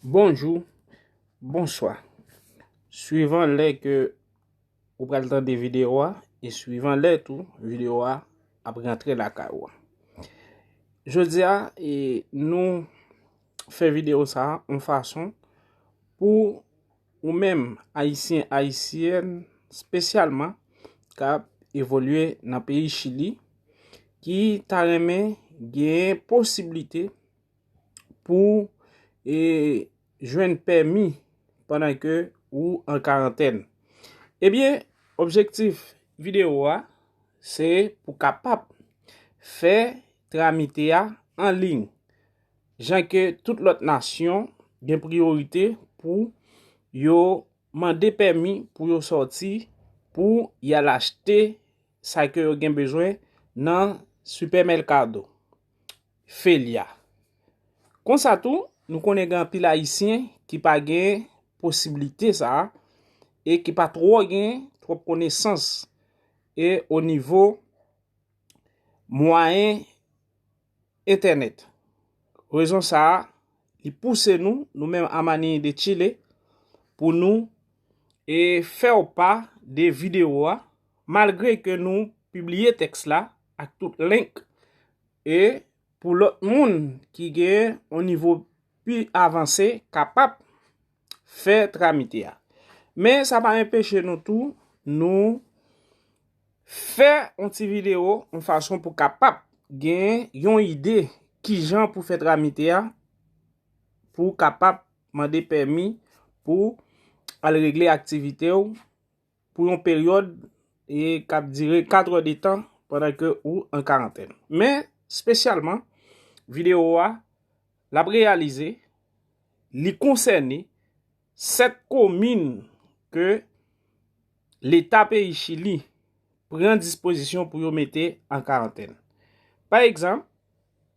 Bonjou, bonswa. Swivan lè ke ou pral tande videyo a, e swivan lè tou videyo a ap rantre lakay ou a. Jodi a, e nou fè videyo sa a, an fason pou ou menm ayisyen, ayisyèn, spesyalman kap evolye nan peyi chili, ki ta renmen gen posiblite, pou e jwenn pèmi pandan ke ou an karantèn. Ebyen, objektif video a, se pou kapap fè tramite a an ling. Jan ke tout lòt nasyon gen priyorite pou yo mande pèmi pou yo sòti pou yal achte sa ke yo gen bezwen nan Super Mercado. Felia. Konsa tou, nou konnen gen anpil ayisyen ki pa gen posibilite sa a e ki pa twò gen twòp konesans e o nivo mwayen entènèt. Rezon sa a, li pouse nou, nou menm a Manini de Chile, pou nou e fè w pa de videyo a, malgre ke nou pibliye tèks la, ak tout link e pou lòt moun ki gen yon nivo pi avanse kapab fè tramite a. Men sa pa enpeche nou tou nou fè yon ti video yon fason pou kapab gen yon ide ki jan pou fè tramite a pou kapab mande pèmi pou al regle aktivite ou. pou yon peryòd e k ap dire 4 è de tan pandan ke ou an karantèn. Men, spesyalman, videyo a, l ap reyalize, li konsène 7 komin ke leta peyi Chili pran dispozisyon pou yo mete an karantèn. Pa egzanp,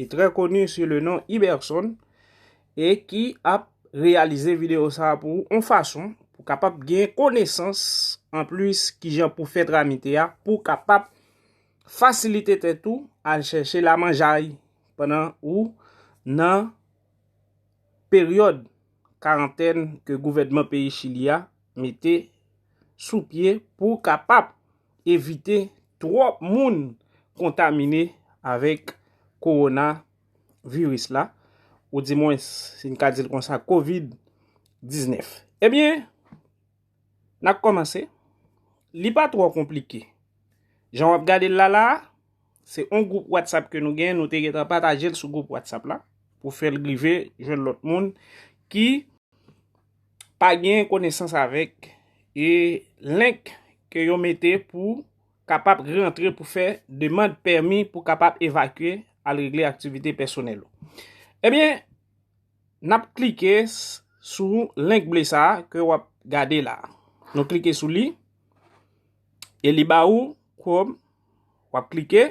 e trè koni su le non Iberson e ki ap reyalize video sa a pou ou on fason pou kapab gen konesans an plis kijan pou fè tramite a pou kapab fasilite tèt ou al chèche lamanjay pandan ou nan peryòd karantèn ke gouvènman peyi Chili a mete sou pye pou kapab evite twòp moun kontamine avèk kowona viris la, ou di mwens si n ka di l konsa covid 19. Ebyen, n ap kòmanse, li pa twò konplike. Jan w ap gade l la la, se yon gwoup WhatsApp ke nou gen, nou te gentan pataje l sou gwoup WhatsApp la, pou fè l rive jwenn lòt moun ki. pa gen konesans avèk e link ke yo mete pou kapap rantre pou fè demand pèmi pou kapap evakye al regle aktivite pèsonèl ou. Ebyen, nap klike sou link ble sa ke wap gade la. Nou klike sou li e li ba ou Chrome, wap klike.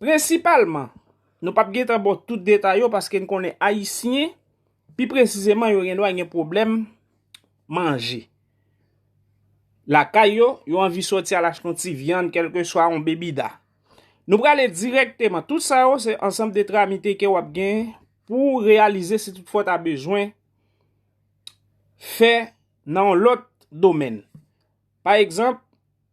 Prensipalman, nou pap gen tan bo tout detay yo paske n konnen Ayisyen, pi presizeman yo gen dwa gen pwoblèm manje. Lakay yo, yo anvi soti al achte yon ti vyann, kelke swa yon bebida. Nou prale direkteman, tout sa yo se ansanm de tramite ke wap gen pou reyalize si tout fwa ta bezwen fè nan yon lot domèn. Pa egzanp,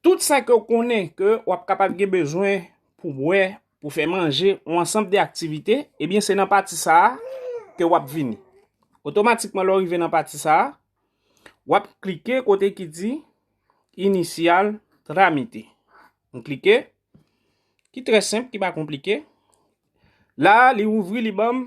Tout sa ke w konnen ke w ap kapab gen bezwen pou bwè, pou fè manje, yon ansanb de aktivite, ebyen se nan pati sa a ke w ap vini. Otomatikman lè w rive nan pati sa a, w ap klike kote ki di Initial Tramite. M klike, ki trè senp, ki pa konplike. La a li ouvri li banm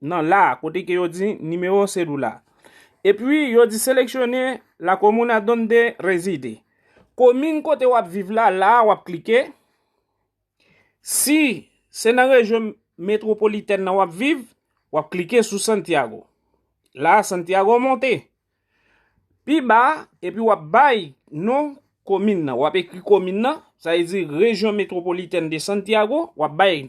nan la a, kote ke yo di nimewo sedula. Epi yo di seleksyone la komuna donde reside. Komin kote w ap viv la, la a w ap klike. Si se nan rejyon metropolitèn nan w ap viv, w ap klike sou Santiago. La a Santiago monte. Pi ba, epi w ap bay non komin nan. W ap ekri komin nan, sa e di rejyon metropolitèn de Santiago, w ap bay.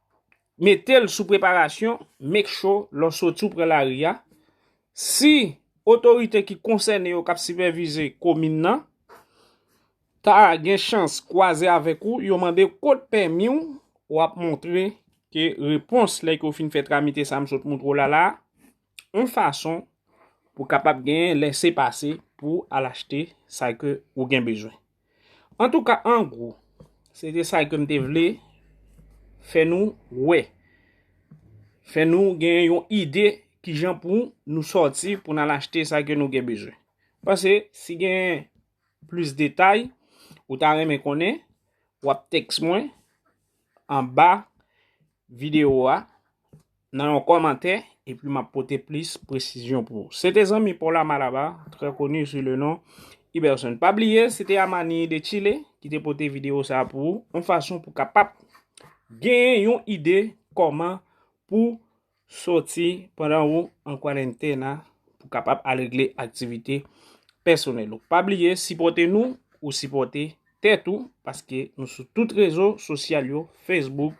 metel sou preparasyon make sure lè w soti w pran lari a si otorite ki konsène yo kap sipèvize komin nan ta gen chans kwaze avèk ou yo mande kot pèmi w wap montre ke repons lè yo fin fè tramite sa m sot montre w la la yon fason pou kapab gen lese pase pou al achte sa ke ou gen bezwen. Antouka an gwo se te sa ke m te vle fè nou wè. Fè nou gen yon ide ki jan pou nou sòti pou n al achte sa ke nou gen bezwen. Pase si gen plis detay ou ta renmen konnen w ap tèks mwen anba videyo a. nan yon kòmantè epi map pote plis presizyon pou ou. Se te zanmi pa w la Malaba, trè koni sou le non Iberson. Pa bliye se te Amani de Chile ki te pote videyo sa pou ou, yon fason pou kapap genyen yon ide kòman pou soti pandan ou an kwarentena pou kapap al regle aktivite pèsonèl ou. Pa bliye sipòte nou, ou sipòte tèt ou paske nou sou tout rezo sosyal yo, Facebook,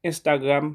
Instagram.